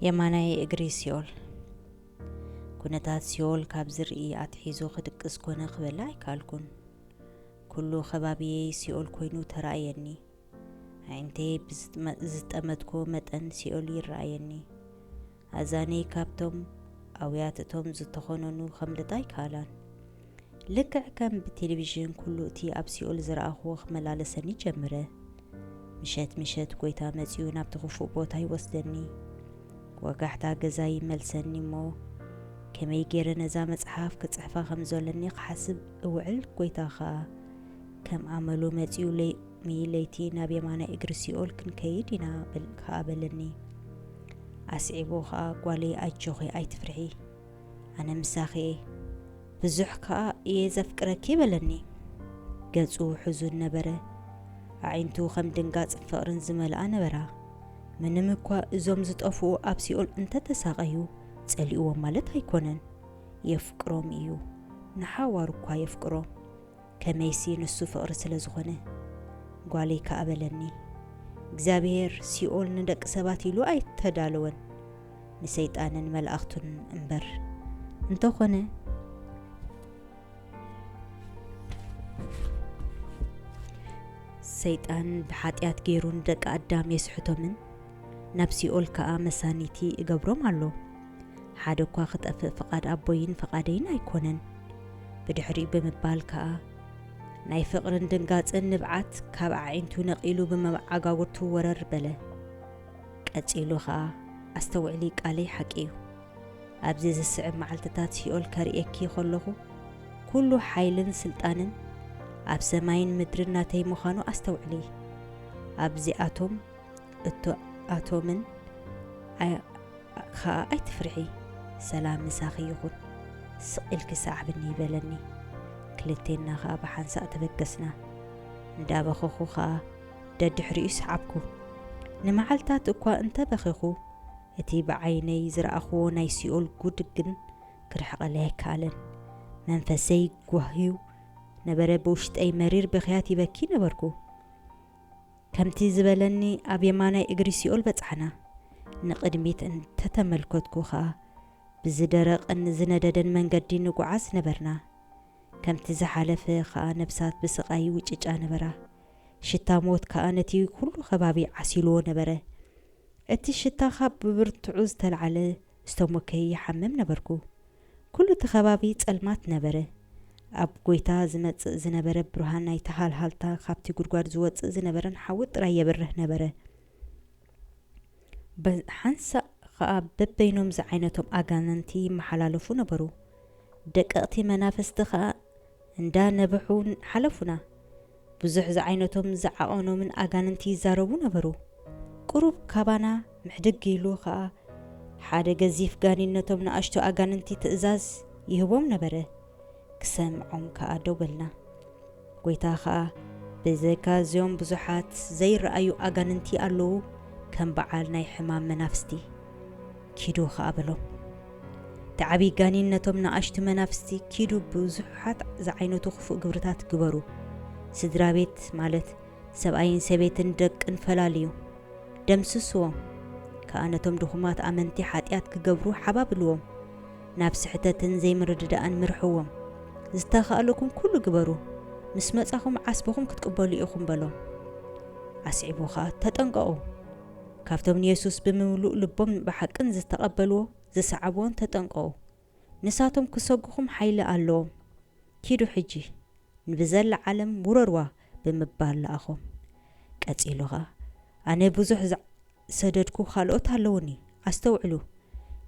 የማናይ እግሪ ሲኦል ኩነታት ሲኦል ካብ ዝርኢ ኣትሒዞ ክድቅስ ኮነ ክበላ ኣይከኣልኩን። ኩሉ ከባቢየይ ሲኦል ኮይኑ ተራእየኒ። ኣዒንተይ ብዝጠመትኮ መጠን ሲኦል ይረኣየኒ። ኣዛነይ ካብቶም ኣውያት እቶም ዝተኾነኑ ከምልጣ ኣይከኣላን። ልክዕ ከም ብቴሌቪዥን ኩሉ እቲ ኣብ ሲኦል ዝረኣኹዎ ክመላለሰኒ ጀምረ። ምሸት ምሸት ጎይታ መጺኡ ናብቲ ክፉእ ቦታ ይወስደኒ። ወጋሕታ ገዛይ ይመልሰኒ እሞ ከመይ ገይረ ነዛ መጽሓፍ ክጽሕፋ ከም ዘለኒ ክሓስብ እውዕል ጎይታ ከኣ ከም ኣመሉ መጺኡ ሎሚ ለይቲ ናብ የማናይ እግሪ ሲኦል ክንከይድ ኢና ከኣ በለኒ። ኣስዒቡ ከኣ ጓለይ ኣጆኺ ኣይትፍርሒ ኣነ ምሳኺ እየ፣ ብዙሕ ከኣ እየ ዘፍቅረኪ በለኒ። ገጹ ሕዙን ነበረ፣ ኣዒንቱ ከም ድንጋጽን ፍቕርን ዝመልኣ ነበራ። ምንም እኳ እዞም ዝጠፍኡ ኣብ ሲኦል እንተ ተሳቐዩ ጸሊእዎም ማለት ኣይኰነን። የፍቅሮም እዩ፣ ንሓዋሩ እኳ የፍቅሮም። ከመይሲ ንሱ ፍቕሪ ስለ ዝኾነ። ጓለይ ከኣ በለኒ፣ እግዚኣብሄር ሲኦል ንደቂ ሰባት ኢሉ ኣይተዳለወን፣ ንሰይጣንን መላእኽቱን እምበር። እንተኾነ። ሰይጣን ብሓጢኣት ገይሩ ንደቂ ኣዳም የስሕቶምን፣ ናብ ሲኦል ከኣ መሳንይቲ እገብሮም ኣሎ። ሓደ እኳ ኽጠፍእ ፍቓድ ኣቦይን ፍቓደይን ኣይኰነን ብድሕሪኡ ብምባል ከኣ፣ ናይ ፍቕርን ድንጋጽን ንብዓት ካብ ኣዒንቱ ነቒሉ ብመዓጋጉርቱ ወረር በለ። ቀጺሉ ኸኣ፣ ኣስተውዕሊ፣ ቃለይ ሓቂ እዩ። ኣብዚ ዚስዕብ መዓልትታት ሲኦል ከርእየኪ ኸለኹ፣ ኵሉ ሓይልን ስልጣንን ኣብ ሰማይን ምድርን ናተይ ምዃኑ ኣስተውዕሊ። ኣብዚኣቶም እቶ ኣቶምን ኸኣ ኣይትፍርሒ ሰላም ምሳኺ ይኹን ስቕ ኢልኪ ሰዓብኒ በለኒ ክልቴና ኸኣ ብሓንሳእ ተበገስና እንዳበኸኹ ኸኣ ደድሕሪኡ ሰዓብኩ ንመዓልታት እኳ እንተ በኼኹ እቲ ብዓይነይ ዝረኣኹዎ ናይ ሲኦል ጉድ ግን ክርሕቐለይ ኣይከኣለን መንፈሰይ ጓህዩ ነበረ ብውሽጠይ መሪር ብኽያት ይበኪ ነበርኩ። ከምቲ ዝበለኒ ኣብ የማናይ እግሪ ሲኦል በጻሕና። ንቕድሚት እንተ ተመልከትኩ ኸኣ ብዝደረቐን ዝነደደን መንገዲ ንጉዓዝ ነበርና። ከምቲ ዝሓለፈ ኸኣ ነፍሳት ብስቓይ ይውጭጫ ነበራ። ሽታ ሞት ከኣ ነቲ ኹሉ ከባቢ ዓሲሉዎ ነበረ። እቲ ሽታ ኻብ ብብርቱዑ ዝተላዕለ ዝተሞከየ ይሓምም ነበርኩ። ኩሉ እቲ ከባቢ ጸልማት ነበረ። ኣብ ጎይታ ዝመጽእ ዝነበረ ብርሃን ናይቲ ሃልሃልታ ካብቲ ጉድጓድ ዝወጽእ ዝነበረን ሓዊ ጥራይ የብርህ ነበረ። ብ ሓንሳእ ኸኣ በበይኖም ዝዓይነቶም ኣጋንንቲ ይመሓላለፉ ነበሩ። ደቀቕቲ መናፍስቲ ኸኣ እንዳ ነበሑ ሓለፉና። ብዙሕ ዝዓይነቶም ዝዓቐኖምን ኣጋንንቲ ይዛረቡ ነበሩ። ቁሩብ ካባና ምሕድግ ኢሉ ኸኣ ሓደ ገዚፍ ጋኒን ነቶም ንኣሽቱ ኣጋንንቲ ትእዛዝ ይህቦም ነበረ። ክሰምዖም ከኣ ደው በልና። ጐይታ ኸኣ ብዘይካ እዚኦም ብዙሓት ዘይረኣዩ ኣጋንንቲ ኣለዉ ከም በዓል ናይ ሕማም መናፍስቲ። ኪዱ ኸኣ በሎም። እቲ ዓብዪ ጋኔን ነቶም ንኣሽቱ መናፍስቲ፣ ኪዱ ብዙሓት ዝዓይነቱ ኽፉእ ግብርታት ግበሩ፣ ስድራ ቤት ማለት ሰብኣይን ሰበይትን ደቅን ፈላልዩ፣ ደምስስዎም፣ ከኣ ነቶም ድኹማት ኣመንቲ ሓጢኣት ክገብሩ ሓባብልዎም፣ ናብ ስሕተትን ዘይምርድዳእን ምርሕዎም፣ ዝተኻእለኩም ኩሉ ግበሩ፣ ምስ መጻኹም ዓስብኹም ክትቅበሉ ኢኹም በሎም። ኣስዒቡ ኸኣ ተጠንቀቑ! ካብቶም ንየሱስ ብምሉእ ልቦምን ብሓቅን ዝተቐበልዎ ዝሰዓብዎን ተጠንቀቑ፣ ንሳቶም ክሰጉኹም ሓይሊ ኣሎዎም። ኪዱ ሕጂ፣ ንብዘላ ዓለም ውረርዋ ብምባል ለኣኾም። ቀጺሉ ኸኣ፣ ኣነ ብዙሕ ዝሰደድኩ ኻልኦት ኣሎዉኒ። ኣስተውዕሉ፣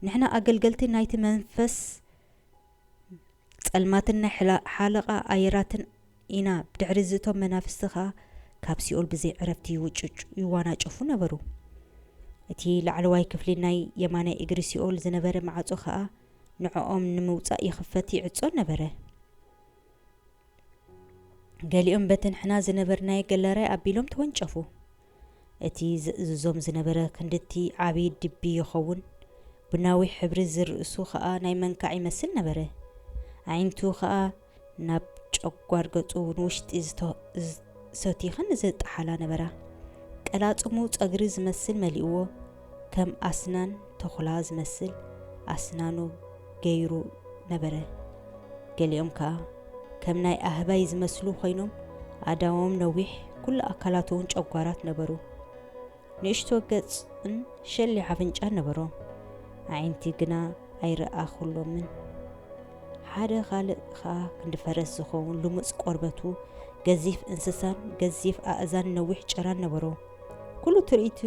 ንሕና ኣገልገልቲ ናይቲ መንፈስ ጸልማትን ናይ ሓለቓ ኣየራትን ኢና ብድሕሪ እዚ እቶም መናፍስቲ ከኣ ካብ ሲኦል ብዘይ ዕረፍቲ ይውጭጩ ይዋናጨፉ ነበሩ እቲ ላዕለዋይ ክፍሊ ናይ የማናይ እግሪ ሲኦል ዝነበረ ማዕጾ ከኣ ንዕኦም ንምውጻእ ይኽፈት ይዕጾን ነበረ ገሊኦም በተን ሕና ዝነበርናዮ ገላራይ ኣቢሎም ተወንጨፉ እቲ ዜእዝዞም ዝነበረ ክንድቲ ዓብዪ ድቢ ይኸውን፣ ቡናዊ ሕብሪ ዝርእሱ ኸኣ ናይ መንካዕ ይመስል ነበረ፣ ኣዒንቱ ኸኣ ናብ ጨጓር ገጹ ንውሽጢ ዝሰቱይኸን ዝጠሓላ ነበራ፣ ቀላጽሙ ጸግሪ ዝመስል መሊእዎ፣ ከም ኣስናን ተኹላ ዝመስል ኣስናኑ ገይሩ ነበረ። ገሊኦም ከኣ ከም ናይ ኣህባይ ዝመስሉ ኮይኖም ኣእዳዎም ነዊሕ ኩሉ ኣካላቱውን ጨጓራት ነበሩ። ንእሽቶ ገጽን ሸሊ ኣፍንጫን ነበሮም። ኣዒንቲ ግና ኣይረኣኹሎምን። ሓደ ካልእ ከኣ ክንዲ ፈረስ ዝኸውን ልሙጽ ቆርበቱ፣ ገዚፍ እንስሳን ገዚፍ ኣእዛን ነዊሕ ጭራን ነበሮ። ኩሉ ትርኢቱ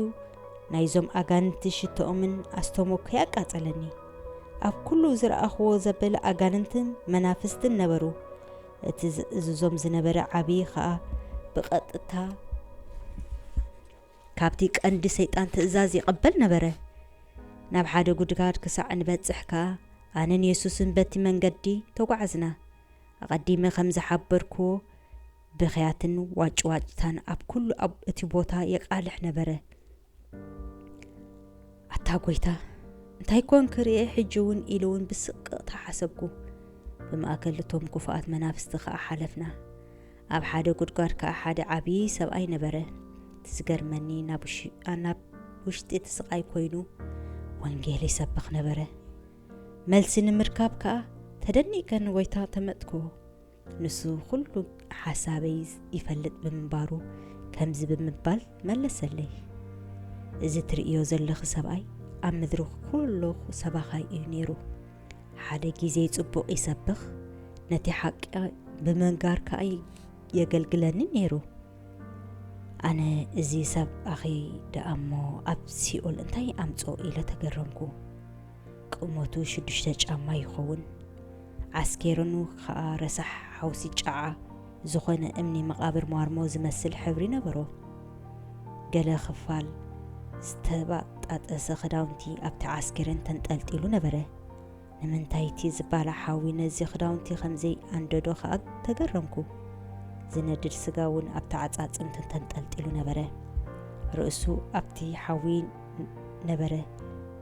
ናይዞም ኣጋንንቲ ሽቶኦምን ኣስቶሞከይ ኣቃጸለኒ ኣብ ኩሉ ዝረኣኽዎ ዘበለ ኣጋንንትን መናፍስትን ነበሩ እቲ ዝእዝዞም ዝነበረ ዓብዪ ኸኣ ብቐጥታ ካብቲ ቀንዲ ሰይጣን ትእዛዝ ይቐበል ነበረ ናብ ሓደ ጉድጋድ ክሳዕ ንበጽሕ ከኣ ኣነን የሱስን በቲ መንገዲ ተጓዓዝና ኣቐዲመ ከም ዝሓበርክዎ ብኽያትን ዋጭዋጭታን ኣብ ኩሉ ኣብ እቲ ቦታ የቃልሕ ነበረ። ኣታ ጎይታ! እንታይ ኮን ክርኤ ሕጂ ውን ኢሉ ውን ብስቅቕታ ሓሰብኩ። ብማእከል እቶም ኩፉኣት መናፍስቲ ከኣ ሓለፍና። ኣብ ሓደ ጉድጓድ ከኣ ሓደ ዓቢ ሰብኣይ ነበረ። እቲ ዝገርመኒ ናብ ውሽጢ እቲ ስቃይ ኮይኑ ወንጌል ይሰብኽ ነበረ። መልሲ ንምርካብ ከኣ ተደኒቀ ንጎይታ ተመጥኩዎ። ንሱ ዅሉ ሓሳበይ ይፈልጥ ብምንባሩ፣ ከምዚ ብምባል መለሰለይ፣ እዚ ትርእዮ ዘሎኺ ሰብኣይ፣ ኣብ ምድሪ ዅሉ ሰባኻይ እዩ ነይሩ። ሓደ ጊዜ ጽቡቕ ይሰብኽ፣ ነቲ ሓቂ ብምንጋር ከኣ የገልግለኒ ነይሩ። ኣነ እዚ ሰብኣኺ ደኣ እሞ ኣብ ሲኦል እንታይ ኣምጽኦ? ኢለ ተገረምኩ። ቁመቱ ሽዱሽተ ጫማ ይኸውን። ዓስኬርኑ ከኣ ረሳሕ ሓውሲ ጨዓ ዝኾነ እምኒ መቓብር ሟርሞ ዝመስል ሕብሪ ነበሮ። ገለ ክፋል ዝተባጣጠሰ ክዳውንቲ ኣብቲ ዓስኬርን ተንጠልጢሉ ነበረ። ንምንታይ እቲ ዝባላ ሓዊ ነዚ ክዳውንቲ ከምዘይ ኣንደዶ ከኣ ተገረምኩ። ዝነድድ ስጋ እውን ኣብቲ ዓጻጽምቱ ተንጠልጢሉ ነበረ። ርእሱ ኣብቲ ሓዊ ነበረ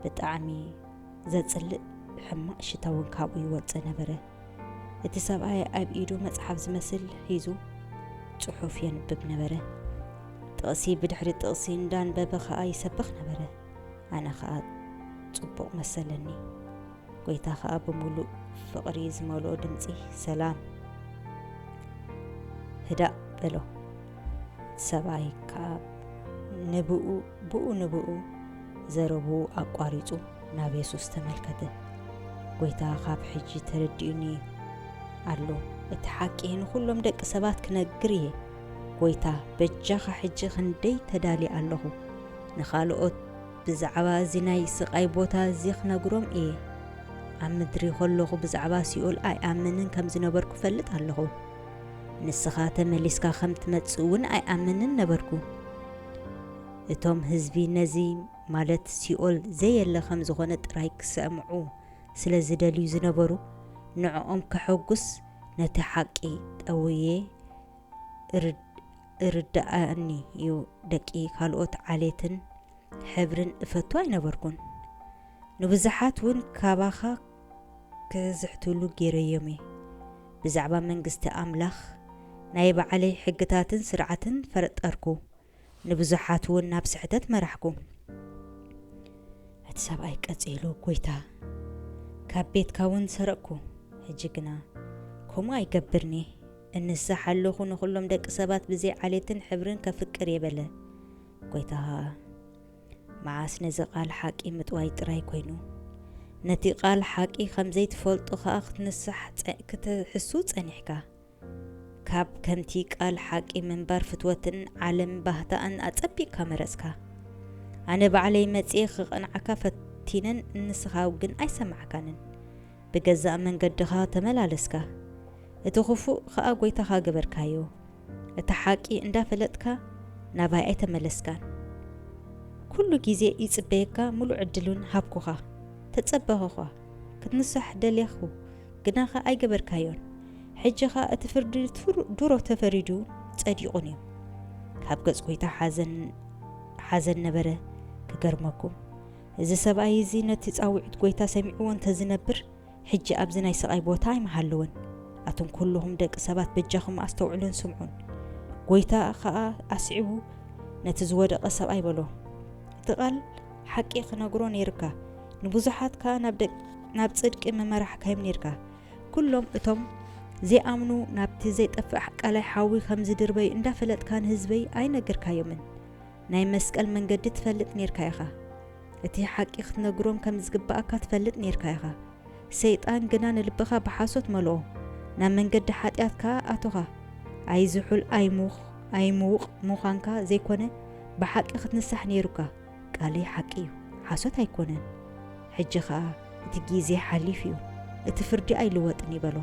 ብጣዕሚ ዘጽልእ ሕማቅ ሽታ ውን ካብኡ ይወጽእ ነበረ እቲ ሰብኣይ ኣብ ኢዱ መጽሓፍ ዝመስል ሒዙ ጽሑፍ የንብብ ነበረ ጥቕሲ ብድሕሪ ጥቕሲ እንዳንበበ ከኣ ይሰብኽ ነበረ ኣነ ከኣ ጽቡቕ መሰለኒ ጎይታ ከኣ ብምሉእ ፍቕሪ ዝመልኦ ድምጺ ሰላም ህዳእ በሎ ሰብኣይ ከኣ ንብኡ ብኡ ንብኡ ዘረብኡ ኣቋሪጹ ናብ የሱስ ተመልከተ። ጐይታ ኻብ ሕጂ ተረዲኡኒ ኣሎ፣ እቲ ሓቂ ንዅሎም ደቂ ሰባት ክነግር እየ። ጐይታ፣ በጃኻ ሕጂ ኽንደይ ተዳልየ ኣለኹ። ንኻልኦት ብዛዕባ እዚ ናይ ስቓይ ቦታ እዚ ኽነግሮም እየ። ኣብ ምድሪ ኸለኹ ብዛዕባ ሲኦል ኣይኣምንን ከም ዝነበርኩ እፈልጥ ኣለኹ። ንስኻ ተመሊስካ ኸም ትመጽእ እውን ኣይኣምንን ነበርኩ። እቶም ህዝቢ ነዚ ማለት ሲኦል ዘየለ ከም ዝኾነ ጥራይ ክሰምዑ ስለ ዝደልዩ ዝነበሩ፣ ንዕኦም ከሐጉስ ነቲ ሓቂ ጠውየ እርድኣኒ እዩ። ደቂ ካልኦት ዓሌትን ሕብርን እፈቱ ኣይነበርኩን። ንብዙሓት ውን ካባኻ ክዝሕትሉ ገይረዮም'የ። ብዛዕባ መንግስቲ ኣምላኽ ናይ ባዕለይ ሕግታትን ስርዓትን ፈርጠርኩ፣ ንብዙሓት'ውን ናብ ስሕተት መራሕኩ። እቲ ሰብኣይ ቀጺሉ፣ ጐይታ፣ ካብ ቤትካ'ውን ሰረቕኩ፣ ሕጂ ግና ከምኡ ኣይገብርን'የ፣ እንስሳሕ ኣሎኹ፣ ንዅሎም ደቂ ሰባት ብዘይ ዓሌትን ሕብርን ከፍቅር'የ በለ። ጐይታ ኸኣ። መዓስ ነዚ ቓል ሓቂ ምጥዋይ ጥራይ ኰይኑ፣ ነቲ ቓል ሓቂ ኸም ዘይትፈልጦ ኸኣ ክትንሳሕ ክትሕሱ ጸኒሕካ? ካብ ከምቲ ቓል ሓቂ ምንባር ፍትወትን ዓለም ባህታኣን ኣጸቢቕካ መረጽካ? ኣነ ባዕለይ መጺኤ ኸቕንዓካ ፈቲነን እንስኻ ግን ኣይሰማዕካንን። ብገዛእ መንገድኻ ተመላለስካ፣ እቲ ኽፉእ ኸኣ ጐይታኻ ገበርካዮ። እታ ሓቂ እንዳ ፈለጥካ ናባይ ኣይተመለስካን ኩሉ ግዜ ይጽበየካ ሙሉእ ዕድሉን ሃብኩኻ ተጸበክዃ ክትንሳሕ ደሌኹ ግናኸ ኣይገበርካዮን ሕጂ ኸኣ እቲ ፍርዲ ዱሮ ተፈሪዱ ጸዲቁን እዩ ካብ ገጽ ጎይታ ሓዘን ሓዘን ነበረ ክገርመኩም እዚ ሰብኣይ እዚ ነቲ ጻዊዕት ጎይታ ሰሚዕዎ እንተዝነብር ሕጂ ኣብዚ ናይ ስቓይ ቦታ ኣይምሃለወን። ኣቱም ኩሉኹም ደቂ ሰባት በጃኹም ኣስተውዕሉን ስምዑን። ጎይታ ኸኣ ኣስዒቡ ነቲ ዝወደቐ ሰብኣይ በሎ፣ እቲ ቓል ሓቂ ኽነግሮ ነይሩካ፣ ንብዙሓት ከኣ ናብ ናብ ጽድቂ ምመራሕካዮም ነይርካ። ኩሎም እቶም ዘይኣምኑ ናብቲ ዘይጠፍእ ቀላይ ሓዊ ኸም ዝድርበዩ እንዳፈለጥካ ንህዝበይ ኣይነገርካዮምን። ናይ መስቀል መንገዲ ትፈልጥ ኔርካ ኢኻ። እቲ ሓቂ ክትነግሮም ከም ዝግብኣካ ትፈልጥ ኔርካ ኢኻ። ሰይጣን ግና ንልብኻ ብሓሶት መልኦ፣ ናብ መንገዲ ሓጢኣት ከኣ ኣቶኻ። ኣይዝሑል ኣይሙኽ ኣይምዉቕ ምዃንካ ዘይኮነ፣ ብሓቂ ክትንሳሕ ኔሩካ። ቃለይ ሓቂ እዩ፣ ሓሶት ኣይኮነን። ሕጂ ኸኣ እቲ ጊዜ ሓሊፍ እዩ፣ እቲ ፍርዲ ኣይልወጥን እዩ በሎ።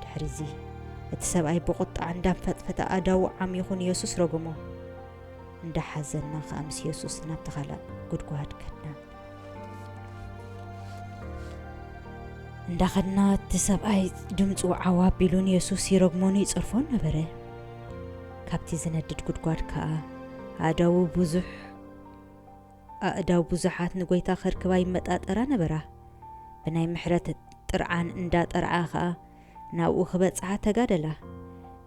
ድሕሪዚ፣ እቲ ሰብኣይ ብቑጥዓ እንዳንፈጥፈጠ ኣእዳዉ ዓሚኹ ንየሱስ ረጉሞ። እንዳሓዘና ኸኣ ምስ የሱስ ናብቲ ኻልእ ጉድጓድ ከድና። እንዳኸድና እቲ ሰብኣይ ድምጹ ዓው ኣቢሉ ንየሱስ ይረግሞን ይጸርፎን ነበረ። ካብቲ ዝነድድ ጉድጓድ ከኣ ኣእዳዉ ብዙሕ ኣእዳው ብዙሓት ንጐይታ ከርክባ ይመጣጠራ ነበራ። ብናይ ምሕረት ጥርዓን እንዳ ጠርዓ ከኣ ናብኡ ክበጽሓ ተጋደላ።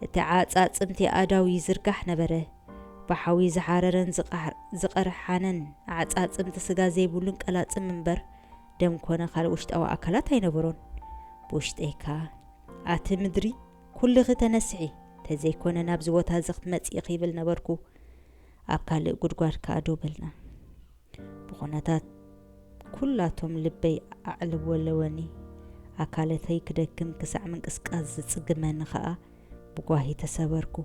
እቲ ዓጻጽምቲ ኣእዳው ይዝርጋሕ ነበረ። ብሓዊ ዝሓረረን ዝቐርሓነን ዓጻጽምቲ ስጋ ዘይብሉን ቀላጽም እምበር ደም ኮነ ካልእ ውሽጣዊ ኣካላት ኣይነበሮን። ብውሽጠይ ከኣ ኣቲ ምድሪ ኩልኺ ተነስሒ ተዘይኮነ ናብዚ ቦታ እዚ ክትመጽ ኢኺ ይብል ነበርኩ። ኣብ ካልእ ጉድጓድ ከኣ ደው በልና። ብኩነታት ኩላቶም ልበይ ኣዕለወለወኒ። ኣካለተይ ክደክም ክሳዕ ምንቅስቃስ ዝጽግመኒ ከኣ ብጓሂ ተሰበርኩ።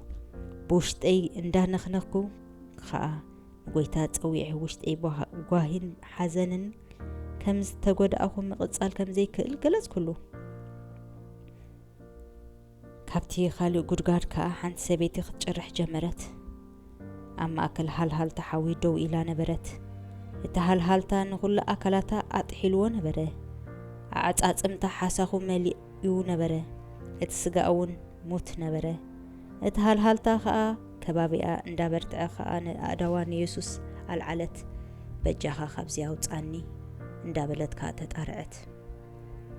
ብውሽጠይ እንዳነኽነኽኩ ከኣ ንጎይታ ጸዊዐ ውሽጠይ ብጓሂን ሓዘንን ከም ዝተጎዳእኩ ምቕጻል ከም ዘይክእል ገለጽኩሉ። ካብቲ ካልእ ጉድጋድ ከኣ ሓንቲ ሰበይቲ ክትጭርሕ ጀመረት። ኣብ ማእከል ሃልሃልታ ሓዊ ደው ኢላ ነበረት። እቲ ሃልሃልታ ንኹሉ ኣካላታ ኣጥሒልዎ ነበረ። ኣዕጻጽምታ ሓሳኹ መሊኡ ነበረ፣ እቲ ስጋኣ'ውን ሙት ነበረ። እቲ ሃልሃልታ ከኣ ከባቢኣ እንዳበርትዐ ከኣ ንኣእዳዋ ንየሱስ ኣልዓለት፣ በጃኻ ካብዚ ኣውጽኣኒ እንዳበለት ከኣ ተጣርዐት።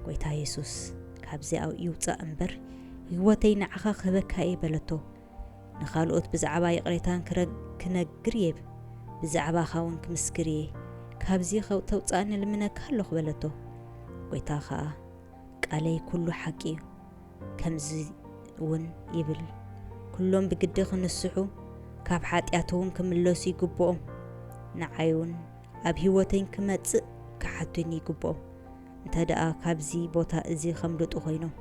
ጎይታ የሱስ ካብዚ ኣው ይውጻእ እምበር ህይወተይ ንዓኻ ክህበካ እየ በለቶ። ንኻልኦት ብዛዕባ ይቕሬታን ክነግር እየ ብዛዕባኻ እውን ክምስክር እየ ካብዚ ተውጻእኒ ልምነካ ኣለኹ በለቶ። ጎይታ ኸኣ ቃለይ ኩሉ ሓቂ እዩ ከምዚ እውን ይብል ኩሎም ብግዲ ክንስሑ ካብ ሓጢኣት እውን ክምለሱ ይግብኦም ንዓይ እውን ኣብ ህይወተይ ክመጽእ ክሓቱኒ ይግብኦም እንተ ደኣ ካብዚ ቦታ እዚ ኸምልጡ ዀይኖም፣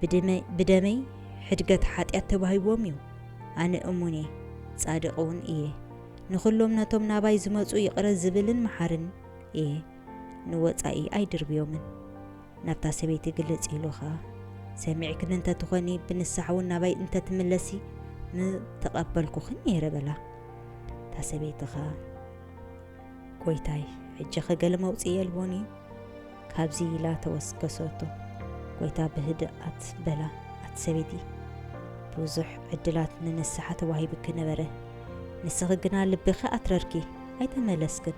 ብድመይ ብደመይ ሕድገት ሓጢኣት ተዋሂብዎም እዩ። ኣነ እሙን እየ፣ ጻድቕ እውን እየ፣ ንዅሎም ነቶም ናባይ ዚመጹ ይቕረ ዝብልን መሓርን እየ፣ ንወጻኢ ኣይድርብዮምን። ናብታ ሰበይቲ ግልጽ ኢሉ ኸኣ፣ ሰሚዕክኒ እንተ ትዀኒ፣ ብንስሓ እውን ናባይ እንተ ትምለሲ፣ ምተቐበልኩኺ ነይረ በላ። እታ ሰበይቲ ኸኣ። ጐይታይ፣ ሕጂኸ ገለ መውጽኢ የልቦን እዩ? ካብዚ ኢላ ተወስከሰቶ። ጐይታ ብህድኣት በላ፣ ኣቲ ሰበይቲ፣ ብዙሕ ዕድላት ንንስሓ ተዋሂቡኪ ነበረ፣ ንስኺ ግና ልብኺ ኣትረርኪ፣ ኣይተመለስክን።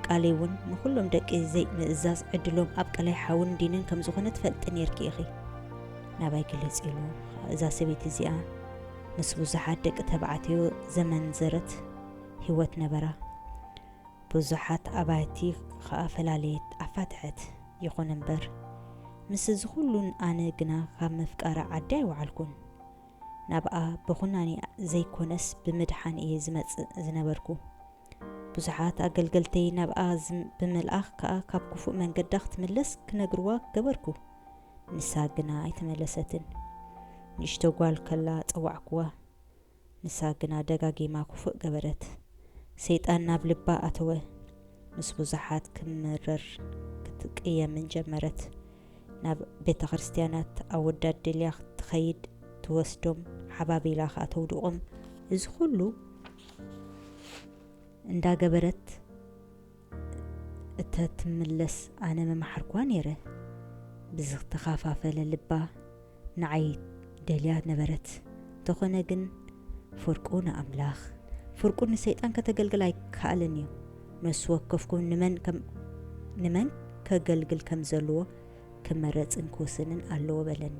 ቃለይውን ንዅሎም ደቂ ዘይምእዛዝ ዕድሎም ኣብ ቀላይ ሓውን ዲንን ከም ዝዀነ ትፈልጢ ኔርኪ ኢኺ። ናባይ ግለጺ ኢሉ ኸኣ እዛ ሰበይቲ እዚኣ ምስ ብዙሓት ደቂ ተባዕትዮ ዘመንዘረት፣ ህይወት ነበራ። ብዙሓት ኣባይቲ ኸኣ ፈላለየት፣ ኣፋትሐት። ይኹን እምበር፣ ምስ'ዚ ዅሉ ኣነ ግና ኻብ ምፍቃራ ዓዲ ኣይወዓልኩን። ናብኣ ብዅናኔ ዘይኰነስ ብምድሓን እየ ዝመጽእ ዝነበርኩ። ብዙሓት ኣገልገልተይ ናብኣ ብምልኣኽ ከኣ ካብ ክፉእ መንገዳ ኽትምለስ ክነግርዋ ገበርኩ። ንሳ ግና ኣይተመለሰትን። ንእሽቶ ጓል ከላ ጸዋዕክዋ። ንሳ ግና ደጋጊማ ክፉእ ገበረት። ሰይጣን ናብ ልባ ኣተወ። ምስ ብዙሓት ክትምርር ክትቅየምን ጀመረት። ናብ ቤተክርስትያናት ኣወዳት ደልያ ትኸይድ፣ ትወስዶም፣ ሓባቢላ ከኣ ተውድቖም። እዚ ኹሉ እንዳገበረት። እተትምለስ ኣነ ምመሓርክዋ ነይረ። ብዝተኻፋፈለ ልባ ንዓይ ደልያ ነበረት። እንተኾነ ግን ፍርቁ ንኣምላኽ ፍርቁ ንሰይጣን ከተገልግል ኣይከኣልን እዩ። ነሱ ወከፍኩም ንመን ከም ንመን ከገልግል ከም ዘለዎ ክመረጽን ክውስንን ኣለዎ በለኒ።